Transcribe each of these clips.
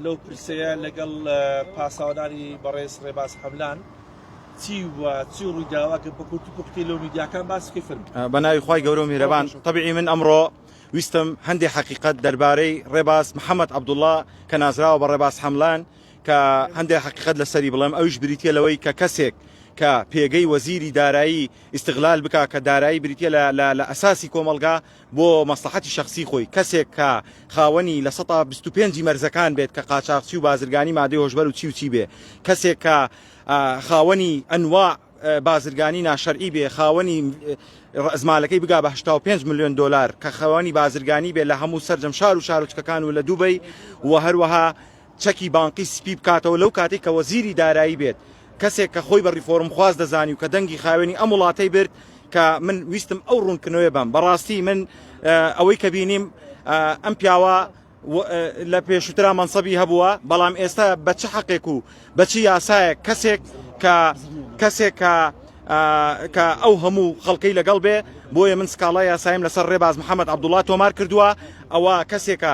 لەو پرسەیە لەگەڵ پاساوەدانی بەڕێز ڕێباز حەملان چی و چی ڕوویداوە کە بە کورتی پوختی لەو میدیاکان باسی فرم بە ناوی خی گەورە و میرەبان طبعی من ئەمڕۆ ویستم هەندێک حقیقت دەربارەی ڕێباز محەممەد عبدوڵا کە نازراوە بە ڕێباز حەملان کە هەندێک حقیقت لەسەری بڵێم ئەوش بریتە لەوەی کە کەسێک کە پێگەی وەزیری دارایی ئیسیغلال بک کە دارایی بریتە لە لە ئەساسی کۆمەلگا بۆ مەسڵەحەتی شەخسی خۆی، کەسێک کە خاوەنی لە سەتا بیست و پێنج ی مەرزەکان بێت کە قاچاخچی و بازرگانی مادەی هۆشبەر و چی و چی بێ، کەسێک کە خاوەنی ئەنواع بازرگانی ناشەرعی بێ، خاوەنی ڕەئزمالەکەی بگا بە هەشتا و پێنج ملیۆن دۆلار، کە خاوەنی بازرگانی بێ لە هەموو سەرجەم شار و شارۆچکەکان و لە دوبەی و هەروەها چەکی بانقی سپی بکاتەوە لەو کاتەی کە وەزیری دارایی بێت کەسێک کە خۆی بە ریفۆرم خواز دەزانی و کە دەنگی خاوێنی ئەم وڵاتەی برد کە من ویستم ئەو رونکردنەوەیە بەم بەڕاستی من ئەوەی کە بینیم ئەم پیاوە لە پێشوترا مەنسەبی هەبووە بەڵام ئێستا بە چ حەقێک و بە چ یاسایە کەسێک کە کەسێک کە کە ئەو هەموو خەڵکەی لەگەڵ بێ بۆیە من سکاڵای یاسایم لەسەر ڕێباز محەممەد عبدوڵات تۆمار کردووە ئەوە کەسێکە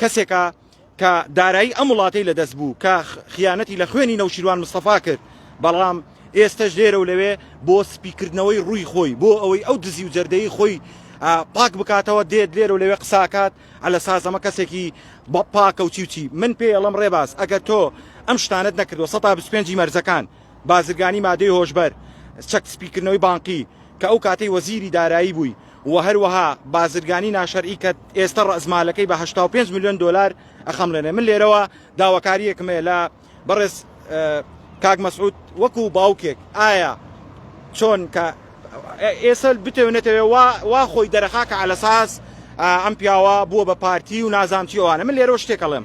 کەسێکە کە دارایی ئەم وڵاتەی لەدەست بوو کە خیانەتی لە خوێنی نەوشیروان مستەفا کرد بەڵام ئێستەش لێرە و لەوێ بۆ سپیکردنەوەی ڕووی خۆی بۆ ئەوەی ئەو دزی و جەردەی خۆی پاک بکاتەوە دێت لێرە و لەوێ قساکات ئەلە سازەمە کەسێکی بە پاکە و چی و چی من پێڵم ڕێباز ئەگەر تۆ ئەم شتانت نەکردوە 125 مەرزەکان بازرگانی مادەی هۆشبەر، چەک سپیکردنەوەی بانقی کە ئەو کاتەی وەزیری دارایی بووی و هەروەها بازرگانی ناشەرعی کە ئێستە ڕەئزمالەکەی بە هەشتا و پێنج ملیۆن دۆلار ئەخەمڵێنێ من لێرەوە داواکاریەکم هەیە لە بەڕێز کاک مەسعود وەکو باوکێک ئایا چۆن کە ئێستا بتەوێ نەتەوێ وا وا خۆی دەرەخا کە علەساس ئەم پیاوە بووە بە پارتی و نازام چی ئەوانە من لێرەوە شتێک ئەڵێم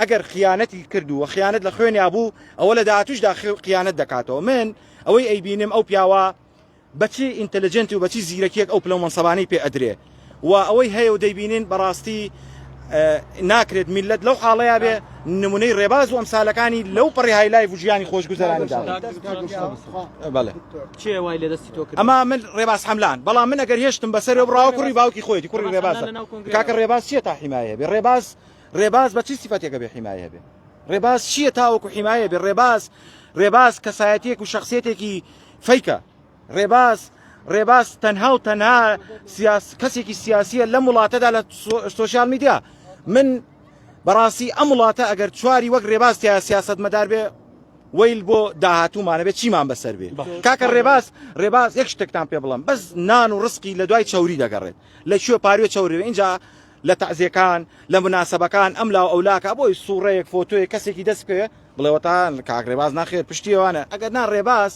ئەگەر خیانەتی کرد و خیانەت لە خوێنیا بوو ئەوە لە داهاتوشدا قیانەت دەکاتەوە من ئەوەی ئەیبینم ئەو پیاوە بەچی ئینتەلجنتی و بەچی زیرەکیەک ئەو پلە مەنسەبانی پێ ئەدرێ و ئەوەی هەیە و دەیبینین بەڕاستی ناکرێت میلەت لەو حاڵەیە بێ نمونەی ڕێباز و ئەمسالەکانی لەو پەڕی های لای ژیانی خۆشگوزەراندا ئەما من ڕێباز حملان بەڵام من ئەگەر هێشتم بەسەر بڕاوە کوڕی باوکی خۆیتی کوڕی ڕێباز کاکە ڕێباز چیە تا حیمایە بێ ڕێباز ڕێباز بە چ سیفەتێک ئەبێ حیمایە بێ؟ ڕێباز چییە تاوەکو حیمایە بێ؟ ڕێباز ڕێباز کەسایەتیەک و شخصیتێکی فەیکە ڕێباز ڕێباز تەنها و تەنها سیاس کەسێکی سیاسیە لەم وڵاتەدا لە سوۆسیال میدیا من بەڕاستی ئەم وڵاتە ئەگەر چواری وەک ڕێباز تیا سیاست مەدار بێ ویل بۆ داهاتوومانە بێت چیمان بەسەر بێ کاکە ڕێباز ڕێباز یەک شتێکتان پێ بڵم بەس نان و ڕسقی لە دوای چوری دەگەڕێت لە کوێ پاروێ چورێ اینجا لە تەعزیەکان لە مناسەبەکان ئەم لاو ئەو لاکە بۆی سوڕەیەک فۆتۆیەک کەسێکی دەست بکەوێ بڵێ وەتان کاک رێباز ناخێر پشتی ئەوانە ئەگەر نا رێباز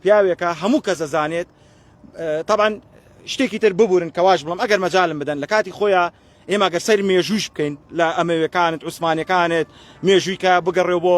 پیاوێکە هەموو کەس دەزانێت طبعا شتێکی تر ببورن کەواش بڵم ئەگەر مەجالم بدەن لە کاتی خۆیان ئێمە گەر سەر مێژووش بکەین لە ئەمەوێکانت عوسمانەکانت مێژوویکە بگەڕێ بۆ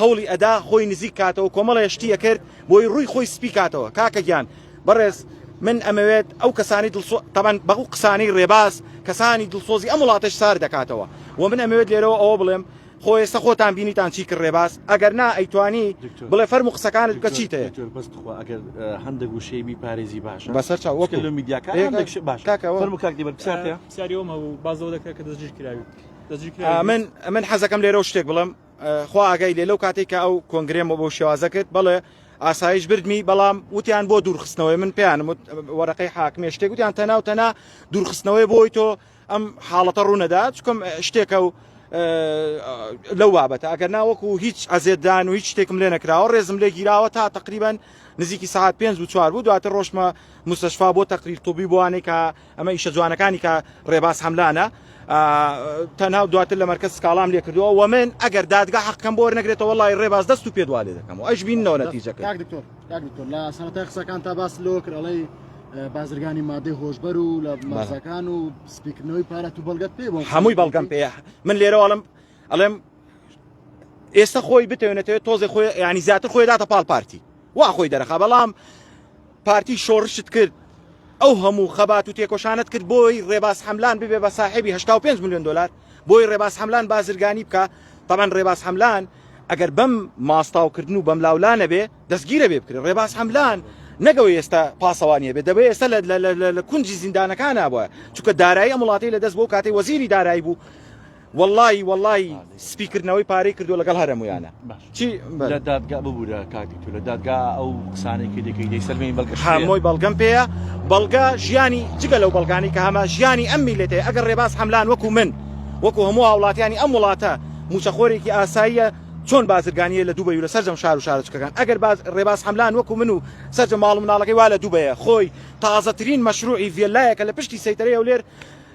هەوڵی ئەدا خۆی نزیک کاتەوە کۆمەڵێ شتی ئەکرد بۆی ڕووی خۆی سپی کاتەوە کاکە گیان بەڕێز من ئەمەوێت ئەو کەسانی دڵسۆ تەبەن بەغو قسانی ڕێباز کەسانی دڵسۆزی ئەم وڵاتەش سار دەکاتەوە و من ئەمەوێت لێرەوە ئەوە بڵێم خۆ ئێستا خۆتان بینیتان چی کرد ڕێباز ئەگەر نا ئەیتوانی بڵێ فەرم و قسەکانت بکە چیت بەستخوا ئەگەر هەندێک وشەی بی پارێزی باشە بەسەر چاو وەک لە میدیاکان باش کاکەوە فەرم و کاک دیبەر بسیارە بسیاری ئەوم هەبوو بازەوە دەکرێت کە دەستگیر کراوی من من حەزەکەم لێرە و شتێک بڵم خوا ئاگای لێ لەو کاتێک کە ئەو کۆنگرێمە بۆ شێوازە کرد بەڵێ ئاسایش بردمی بەڵام وتیان بۆ دوورخستنەوەی من پێیان وت وەرەقەی حاکمێ شتێک وتیان تەنا و تەنا دوورخستنەوەی بۆی تۆ ئەم حاڵەتە ڕوونەدا چکم شتێکە و لەو بابەتە ئەگەر ناوەکو هیچ ئەزێدان و هیچ شتێکم لێ نەکراوە ڕێزم لێ گیراوە تا تقریبان نزیکی ساعت پێنج و چوار بوو دواتر ڕۆشمە مستەشفا بۆ تەقریر توبی بۆانێکە ئەمە ئیشە جوانەکانی کا رێباز حەملانە تەنها و دواتر لە مەرکز سکاڵام لێ کردووە و من ئەگەر دادگا حەقەم بۆر نەگرێتەوە وڵی ڕێباز دەست و پێدوا لێ دەکەم و ئەش بینەوە نەتیجەکە لە سەرەتای قسەکان تا باس لۆ کرەڵی بازرگانی مادەی هۆشبەر و لە مەزەکان و سپیکردنەوەی پارەت و بەڵگەت پێ بۆ هەمووی بەڵگەم پێ من لێرەواڵم ئەڵێم ئێستا خۆی بتێنێتەوە تۆزێ خۆی ینی زیاتر خۆی داتە پاڵ پارتی وا خۆی دەرەخە بەڵام پارتی شۆڕشت کرد ئەو هەموو خەبات و تێکۆشانت کرد بۆی ڕێباز حەملان ببێ بە ساحێبی 85 میلیۆن دلار بۆی ڕێباز حەملان بازرگانی بکە تەمان ڕێباز حەملان ئەگەر بەم ماستاوکردن و بەم لاولا نەبێ دەستگیرە بێ بکرێ ڕێباز حەملان نەگەوە ئێستا پاسەوانیە بێ دەبێ ئێستا لە کونجی زیندانەکانە بە چونکە دارایی ئەم وڵاتی لە دەست بۆ کاتی وەزیری دارایی بوو وەڵایی وەڵایی سپی کردنەوەی پارەی کردو لەگەڵ هەرە مویانە چی لە دادگا ببوورە کاتی تو لە دادگا ئەو قسانەی کە دەکەی دەی سەلمێنی بەڵگە هەمۆی بەڵگەم پێەیە بەڵگە ژیانی جگە لەو بەڵگانی کە هەمە ژیانی ئەم میلێتێ ئەگەر ڕێباز حملان وەکو من وەکو هەموو هاوڵاتیانی ئەم وڵاتە موچەخۆرێکی ئاساییە چۆن بازرگانیە لە دوبەی و لە سەرجەم شار و شارچکەکان ئەگەر باز ڕێباز حملان وەکو من و سەرجە ماڵ مناڵەکەی وا لە دوبەیە خۆی تازەترین مەشروعی ڤێلایەکە لە پشتی سەیتەرەیە و لێر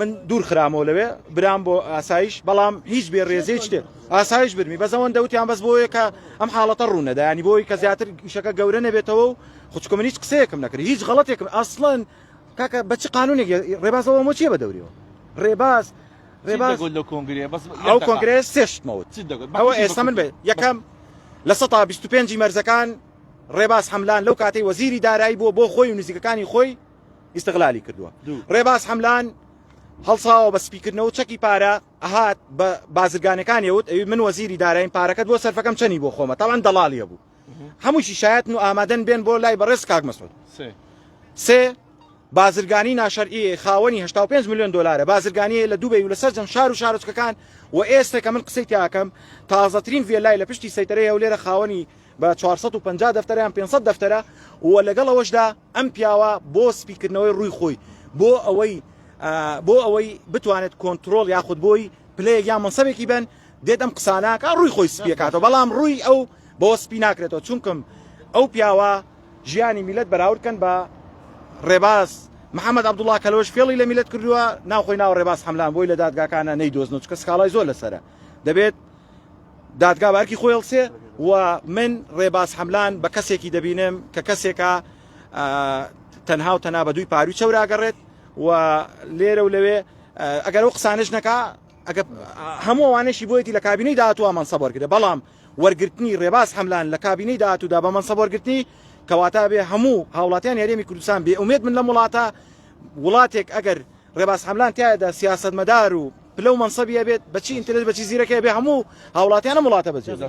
من دوور خرامەوە لەوێ برام بۆ ئاسایش بەڵام هیچ بێ ڕێزێ شتێ ئاسایش برمی بە زەوەن دەوتیان بەس بۆیە کە ئەم حاڵەتە ڕوونەدایانی بۆی کە زیاتر شەکە گەورە نەبێتەوە و خوچکە من هیچ قسەیەکم نەکرد هیچ غڵەتێکم ئەسڵەن کاکە بە چ قانونێک ڕێبازەوە مۆ چیە بە دەوریەوە ڕێباز ڕێباز لە کۆنگرێ بەس ئەو کۆنگرێ سێشتمەوت ئەوە ئێستا من بێ یەکەم لە 125 مەرزەکان ڕێباز حملان لەو کاتی وەزیری دارایی بووە بۆ خۆی و نزیکەکانی خۆی ئیستغلالی کردووە ڕێباز حەملان هەڵساوە بە سپیکردنەوە چەکی پارە ئەهات بە بازرگانەکانی وت ئەوی من وەزیری دارایم پارەکەت بۆ سەرفەکەم چەنی بۆ خۆمە تاوان دەڵالیە بوو هەمووشی شایەتن و ئامادەن بێن بۆ لای بەڕێز کاک مەسود سێ بازرگانی ناشەرعی خاوەنی 5 میلیۆن دلارە بازرگانی لە دوبەی و لە سەرجەم شار و شارۆچکەکان و ئێستا کە من قسەی تاکەم تازەترین ڤێلای لە پشتی سەیتەرەیە و لێرە خاوەنی بە چوار سەد و پەنجا دەفتەرە یان پێنج سەد دەفتەرە و لەگەڵ ئەوەشدا ئەم پیاوە بۆ سپیکردنەوەی ڕووی خۆی بۆ ئەوەی بۆ ئەوەی بتوانێت کۆنتترۆل یاخود بۆی پلەیەک یا مەسەبێکی بن دێت ئەم قساناکە ڕووی خۆی سپیەکاتەوە بەڵام ڕووی ئەو بۆ سپی ناکرێتەوە چونکم ئەو پیاوە ژیانی میلەت بەراوردکەن بە ڕێباز محەممەد عبدوڵا کەلۆش فێڵی لە میلەت کردووە ناوخۆی ناو ڕێباز حملان بۆی لە دادگاکانە نەیدۆزنەوە چکە سکاڵای زۆر لەسرە دەبێت دادگا بە ئەرکی خۆی ئەڵسێ و من ڕێباز حەملان بە کەسێکی دەبینم کە کەسێکە تەنها و تەنا بە دووی پاروی چەوراگەڕێت و لێرە و لەوێ ئەگەر ئەو قسانش نەکا هەموو ئەوانەشی بۆیەتی لە کابینەی داهاتوە مەنسەب وەرگرە بەڵام وەرگرتنی ڕێباز حەملان لە کابینەی داهاتودا بە مەنسەب وەرگرتنی کەواتە بێ هەموو هاوڵاتیان یاریێمی کوردستان بێ ئومێت من لەم وڵاتە وڵاتێک ئەگەر ڕێباز حەملان تیایەدا سیاسەتمەدار و پلە و مەنسەبی ئەبێت بە چی ئینترێس بە چی زیرەکی ئەبێ هەموو هاوڵاتیان ئەم وڵاتە بەجێ بێ.